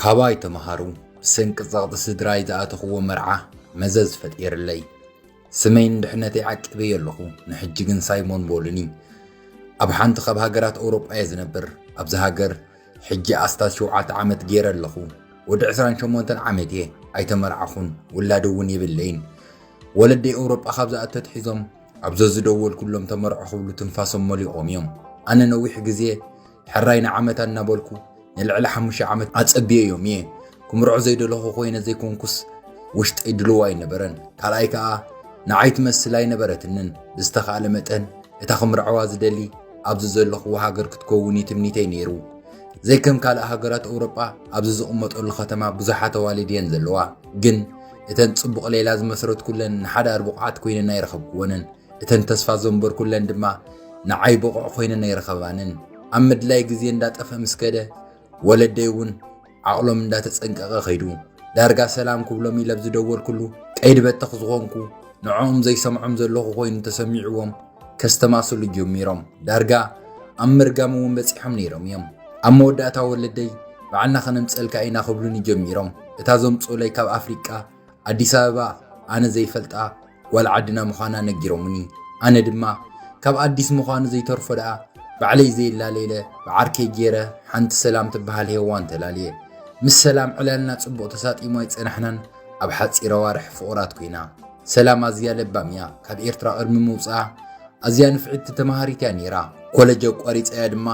ካባይ ተምሃሩ ብሰንኪ ጸቕጢ ስድራይ ዝኣተኽዎ መርዓ መዘዝ ፈጢርለይ ስመይን ድሕነተይ ዓቂበዮ ኣለኹ ንሕጂ ግን ሳይሞን ቦሉኒ ኣብ ሓንቲ ካብ ሃገራት ኣውሮጳ እየ ዝነብር ኣብዚ ሃገር ሕጂ ኣስታት ሸውዓተ ዓመት ጌረ ኣለኹ። ወዲ ዕስራን ሸሞንተን ዓመት'የ። ኣይተመርዓኹን፣ ውላድ እውን የብለይን። ወለደይ ኤውሮጳ ካብ ዝኣቱ ኣትሒዞም ኣብ ዘዝደወልኩሎም ተመርዖ ክብሉ ትንፋሶም መሊቖም እዮም። ኣነ ነዊሕ ግዜ ሕራይ ንዓመታ እናበልኩ ንልዕሊ ሓሙሽተ ዓመት ኣጸብየዮም እየ። ክምርዖ ዘይደለኹ ኮይነ ዘይኮንኩስ ውሽጠይ ድሉው ኣይነበረን። ካልኣይ ከኣ ንዓይ ትመስል ኣይነበረትንን። ብዝተኻእለ መጠን እታ ክምርዐዋ ዝደሊ ኣብዚ ዘለኹዎ ሃገር ክትከውን እዩ ትምኒተይ ነይሩ። ዘይከም ካልእ ሃገራት ኣውሮጳ ኣብዚ ዝቕመጠሉ ከተማ ብዙሓት ኣዋልድ እየን ዘለዋ። ግን እተን ጽቡቕ ሌላ ዝመስረትኩለን ንሓዳር ብቑዓት ኮይነን ኣይረኸብክወንን። እተን ተስፋ ዘንበርኩለን ድማ ንዓይ ብቑዕ ኮይነን ኣይረኸባንን። ኣብ ምድላይ ግዜ እንዳጠፍአ ምስ ከደ ወለደይ እውን ዓቕሎም እንዳተጸንቀቐ ከይዱ። ዳርጋ ሰላም ክብሎም ኢለ ኣብ ዝደወልኩሉ ቀይዲ በተኽ ዝኾንኩ ንዕኦም ዘይሰምዖም ዘለኹ ኮይኑ ተሰሚዕዎም ከስተማስሉ ጀሚሮም። ዳርጋ ኣብ ምርጋም እውን በጺሖም ነይሮም እዮም። ኣብ መወዳእታ ወለደይ ባዕልና ከነምጸልካ ኢና ክብሉኒ ጀሚሮም። እታ ዘምጹኡለይ ካብ ኣፍሪቃ ኣዲስ ኣበባ ኣነ ዘይፈልጣ ጓል ዓድና ምዃና ነጊሮምኒ ኣነ ድማ ካብ ኣዲስ ምዃኑ ዘይተርፎ ደኣ ባዕለይ ዘየላለይለ ብዓርከይ ገይረ ሓንቲ ሰላም ትበሃል ሄዋን ተላልየ ምስ ሰላም ዕላልና ጽቡቕ ተሳጢሙ ኣይጸናሕናን ኣብ ሓጺር ኣዋርሕ ፍቑራት ኮይና ሰላም ኣዝያ ለባም እያ ካብ ኤርትራ ቅድሚ ምውፅኣ ኣዝያ ንፍዕቲ ተማሃሪት እያ ነይራ ኮለጅ ኣቋሪፀያ ድማ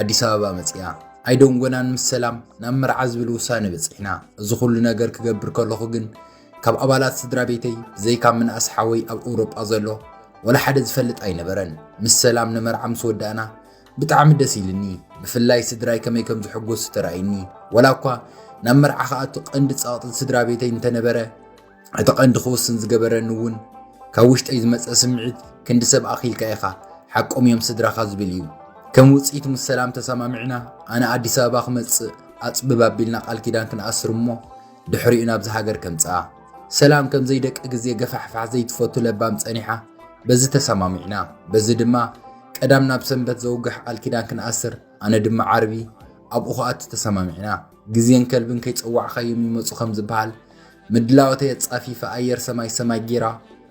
ኣዲስ ኣበባ መፅያ ኣይደንጎናን ምስ ሰላም ናብ መርዓ ዝብል ውሳነ በጺሕና። እዚ ኩሉ ነገር ክገብር ከለኹ ግን ካብ ኣባላት ስድራ ቤተይ ብዘይካ ምንኣስ ሓወይ ኣብ ኤውሮጳ ዘሎ ወላ ሓደ ዝፈልጥ ኣይነበረን። ምስ ሰላም ንመርዓ ምስ ወዳእና ብጣዕሚ ደስ ኢልኒ። ብፍላይ ስድራይ ከመይ ከም ዝሕጎሱ ተራእይኒ። ወላ እኳ ናብ መርዓ ክኣቱ ቀንዲ ጸቕጢ ስድራ ቤተይ እንተነበረ፣ እቲ ቀንዲ ክውስን ዝገበረኒ እውን ካብ ውሽጠይ ዝመፀ ስምዒት ክንዲ ሰብ ኣኺልካ ኢኻ ሓቆም እዮም ስድራኻ ዝብል እዩ። ከም ውፅኢት ምስ ሰላም ተሰማሚዕና ኣነ ኣዲስ ኣበባ ክመፅእ ኣፅብብ ኣቢልና ቃል ኪዳን ክንኣስር እሞ ድሕሪኡ ናብዚ ሃገር ከምፅኣ ሰላም ከም ዘይደቂ ግዜ ገፋሕፋሕ ዘይትፈቱ ለባም ፀኒሓ በዚ ተሰማሚዕና በዚ ድማ ቀዳም ናብ ሰንበት ዘውግሕ ቃል ኪዳን ክንኣስር ኣነ ድማ ዓርቢ ኣብኡ ክኣቱ ተሰማሚዕና ግዜን ከልብን ከይፀዋዕኻዮም ይመፁ ከም ዝበሃል ምድላዎተይ ኣጻፊፈ ኣየር ሰማይ ሰማይ ጌራ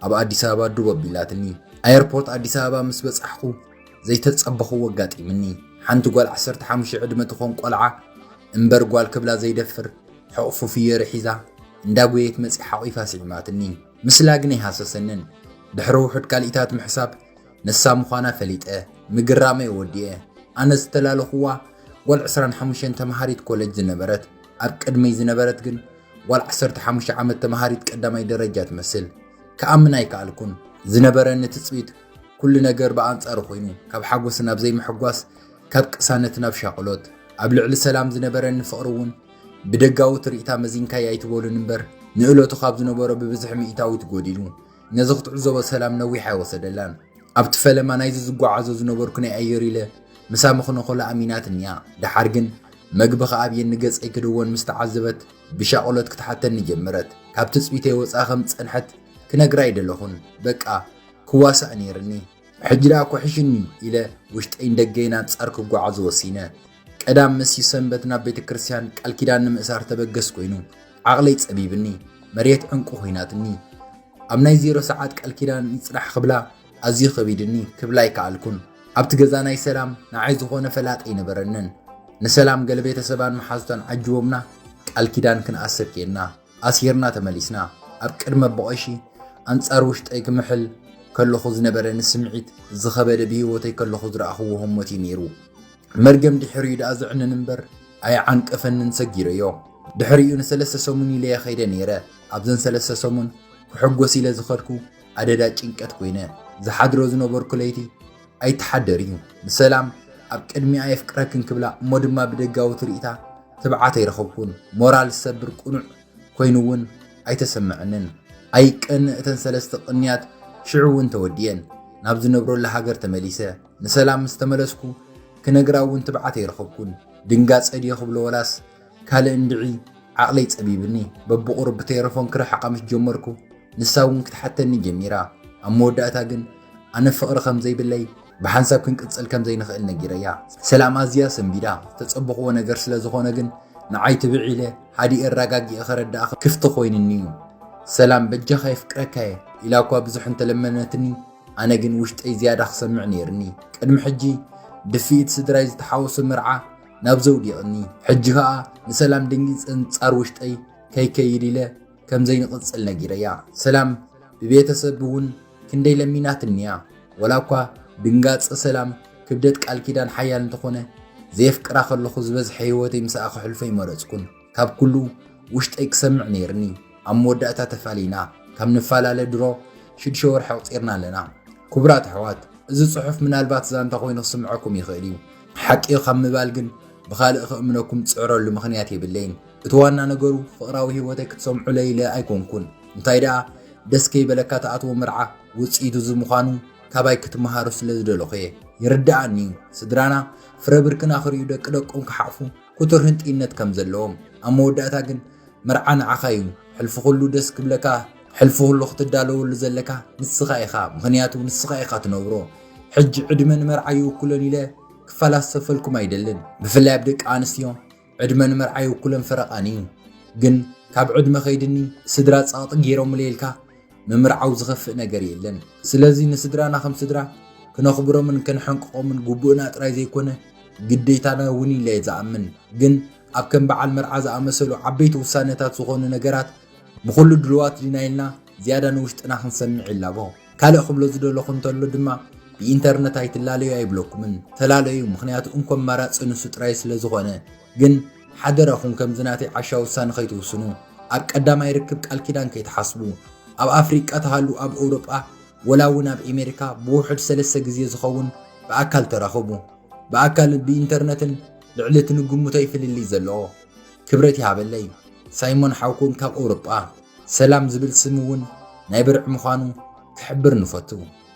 ኣብ ኣዲስ ኣበባ ዱብ ኣቢላትኒ። ኣየርፖርት ኣዲስ ኣበባ ምስ በጻሕኩ ዘይተጸበኽዎ ኣጋጢምኒ። ሓንቲ ጓል ዓሰርተ ሓሙሽተ ዕድመ ትኾን ቆልዓ እምበር ጓል ክብላ ዘይደፍር ሕቕፉ ፍዮሪ ሒዛ እንዳጎየት መጺኣ ሓቒፋ ስዒማትኒ። ምስላ ግን ኣይሃሰሰንን። ድሕሪ ውሑድ ካልኢታት ምሕሳብ ንሳ ምዃና ፈሊጠ ምግራመይ ወዲኤ። ኣነ ዝተላለኹዋ ጓል ዕስራን ሓሙሽተን ተመሃሪት ኮለጅ ዝነበረት ኣብ ቅድመይ ዝነበረት ግን ጓል ዓሰርተ ሓሙሽተ ዓመት ተምሃሪት ቀዳማይ ደረጃ ትመስል። ክኣምን ኣይከኣልኩን። ዝነበረኒ ትጽቢት ኩሉ ነገር ብኣንጻሩ ኮይኑ ካብ ሓጎስ ናብ ዘይምሕጓስ ካብ ቅሳነት ናብ ሻቕሎት ኣብ ልዕሊ ሰላም ዝነበረኒ ፍቕሪ እውን ብደጋዊ ትርኢታ መዚንካይ ኣይትበሉን እምበር ንእለቱ ካብ ዝነበሮ ብብዝሒ ሚእታዊት ጎዲሉ ነዚ ክትዕዘቦ ሰላም ነዊሕ ኣይወሰደላን። ኣብቲ ፈለማ ናይዚ ዝጓዓዞ ዝነበርኩ ናይ ኣየር ኢለ ምሳ ምኽነኾላ ኣሚናትኒ'ያ። ደሓር ግን መግቢ ክኣብየኒ ገጸይ ክድወን ምስ ተዓዘበት ብሻቕሎት ክትሓተኒ ጀመረት። ካብ ትጽቢተይ ወጻኢ ከም ዝጸንሐት ክነግራ ኣይደለኹን። በቃ ክዋሳእ ነይርኒ። ሕጂ ደኣ ኩሕሽኒ ኢለ ውሽጠይን ደገይን ኣንጻር ክጓዓዝ ወሲነ። ቀዳም መሲዩ ሰንበት ናብ ቤተ ክርስቲያን ቃል ኪዳን ንምእሳር ተበገስ ኮይኑ ዓቕለይ ጸቢብኒ፣ መሬት ዕንቁ ኮይናትኒ። ኣብ ናይ ዜሮ ሰዓት ቃል ኪዳን ይጽናሕ ክብላ ኣዝዩ ከቢድኒ፣ ክብላ ኣይከኣልኩን። ኣብቲ ገዛ ናይ ሰላም ንዓይ ዝኾነ ፈላጥ ኣይነበረንን። ንሰላም ገለ ቤተሰባን መሓዙታን ዓጅቦምና ቃል ኪዳን ክንኣስር ኬንና። ኣሲርና ተመሊስና። ኣብ ቅድመ ቦቐሺ ኣንጻር ውሽጠይ ክምሕል ከለኹ ዝነበረኒ ስምዒት ዝኸበደ ብህይወተይ ከለኹ ዝረኣኹዎ ህሞት እዩ ነይሩ። መርገም ድሕሪኡ ደኣ ዘዕንን እምበር ኣይዓንቀፈንን ሰጊረዮ። ድሕሪኡ ንሰለስተ ሰሙን ኢለየ ከይደ ነይረ። ኣብዘን ሰለስተ ሰሙን ክሕጎስ ኢለ ዝኸድኩ ኣደዳ ጭንቀት ኮይነ። ዝሓድሮ ዝነበርኩ ለይቲ ኣይትሓደር እዩ ንሰላም ኣብ ቅድሚኣ የፍቅረክን ክብላ እሞ ድማ ብደጋዊ ትርኢታ ትብዓት ኣይረኸብኩን ሞራል ዝሰብር ቅኑዕ ኮይኑ እውን ኣይተሰመዐንን ኣይቀንእ እተን ሰለስተ ቅንያት ሽዑ እውን ተወዲየን ናብ ዝነብረሉ ሃገር ተመሊሰ ንሰላም ምስ ተመለስኩ ክነግራ እውን ትብዓት ኣይረኸብኩን ድንጋፀ ድዮ ክብሎ ወላስ ካልእ እንድዒ ዓቕለይ ጸቢብኒ በብቑሩብ ብቴረፎን ክርሕቓ ምስ ጀመርኩ ንሳ እውን ክትሓተኒ ጀሚራ። ኣብ መወዳእታ ግን ኣነ ፍቕሪ ከም ዘይብለይ ብሓንሳብ ክንቅጽል ከም ዘይንኽእል ነጊረያ። ሰላም ኣዝያ ሰንቢዳ። ዝተጸበኹዎ ነገር ስለ ዝኾነ ግን ንዓይ ትብዕ ኢለ ሃዲኤ ኣረጋጊኤ ከረድኣ ክፍቲ ኮይንኒ'ዩ። ሰላም በጃኻ የፍቅረካ'የ ኢላ እኳ ብዙሕ እንተለመነትኒ ኣነ ግን ውሽጠይ ዝያዳ ክሰምዕ ነይርኒ። ቅድሚ ሕጂ ድፍኢት ስድራይ ዝተሓወሶ መርዓ ናብ ዘውዲቕኒ ሕጂ ከኣ ንሰላም ደንጊጸን ጻር ውሽጠይ ከይከይድ ኢለ ከም ዘይንቕጽል ነጊረያ ሰላም ብቤተሰብ እውን ክንደይ ለሚናትኒያ ወላ እኳ ድንጋጸ ሰላም ክብደት ቃል ኪዳን ሓያል እንተኾነ ዘየፍቅራ ከለኹ ዝበዝሐ ህይወተይ ምስኣ ከሕልፎ ኣይመረጽኩን ካብ ኩሉ ውሽጠይ ክሰምዕ ነይርኒ ኣብ መወዳእታ ተፋሊና ካብ ንፋላለ ድሮ ሽድሸ ወርሒ ኣቁጺርና ኣለና ኩቡራት ኣሕዋት እዚ ጽሑፍ ምናልባት ዛንታ ኮይኑ ክስምዐኩም ይኽእል እዩ ሓቂ እዩ ካብ ምባል ግን ብኻልእ ክእምነኩም ዝጽዕረሉ ምኽንያት የብለይን እቲ ዋና ነገሩ ፍቅራዊ ሂወተይ ክትሰምዑለይ ኢለ ኣይኮንኩን እንታይ ደኣ ደስ ከይበለካ ትኣትዎ መርዓ ውጽኢቱ እዚ ምዃኑ ካባይ ክትመሃሩ ስለ ዝደለኹ እየ ይርድኣኒ እዩ ስድራና ፍረ ብርክና ክርእዩ ደቂ ደቆም ክሓቁፉ ኩቱር ህንጥይነት ከም ዘለዎም ኣብ መወዳእታ ግን መርዓ ንዓኻ እዩ ሕልፊ ኩሉ ደስ ክብለካ ሕልፊ ኩሉ ክትዳለወሉ ዘለካ ንስኻ ኢኻ ምኽንያቱ ንስኻ ኢኻ ትነብሮ ሕጂ ዕድመ ንመርዓ ይውክሎን ኢለ ክፈላሰፈልኩም ኣይደልን ብፍላይ ኣብ ደቂ ኣንስትዮ ዕድመ ንመርዓ ይውክሎን ፈረቃን እዩ ግን ካብ ዕድመ ከይድኒ ስድራ ጸቕጢ ገይሮምለይ ኢልካ ምምርዓው ዝኸፍእ ነገር የለን። ስለዚ ንስድራና ከም ስድራ ክነኽብሮምን ከነሐንቅቖምን ግቡእና ጥራይ ዘይኮነ ግዴታና እውን ኢለ ዝኣምን። ግን ኣብ ከም በዓል መርዓ ዝኣመሰሉ ዓበይቲ ውሳነታት ዝኾኑ ነገራት ንኹሉ ድሉዋት ዲና ኢልና ዝያዳ ንውሽጥና ክንሰምዕ ይላቦ። ካልእ ክብሎ ዝደለኹ እንተሎ ድማ ብኢንተርነት ኣይትላለዩ ኣይብለኩምን። ተላለዩ፣ ምኽንያቱ እንኮ ኣማራጺ ንሱ ጥራይ ስለ ዝኾነ። ግን ሓደራኹም ከምዚ ናተይ ዓሻ ውሳነ ከይትውስኑ ኣብ ቀዳማይ ርክብ ቃል ኪዳን ከይትሓስቡ ኣብ ኣፍሪቃ ትሃሉ ኣብ ኦውሮጳ ወላ ውን ኣብ ኤሜሪካ ብውሑድ ሰለስተ ግዜ ዝኸውን ብኣካል ተራኸቡ ብኣካል ብኢንተርነትን ልዕሊ እቲ ንግምቶይ ፍልልይ ዘለዎ ክብረት ይሃበለይ ሳይሞን ሓውኩም ካብ ኦውሮጳ ሰላም ዝብል ስም ውን ናይ ብርዒ ምዃኑ ክሕብር ንፈቱ።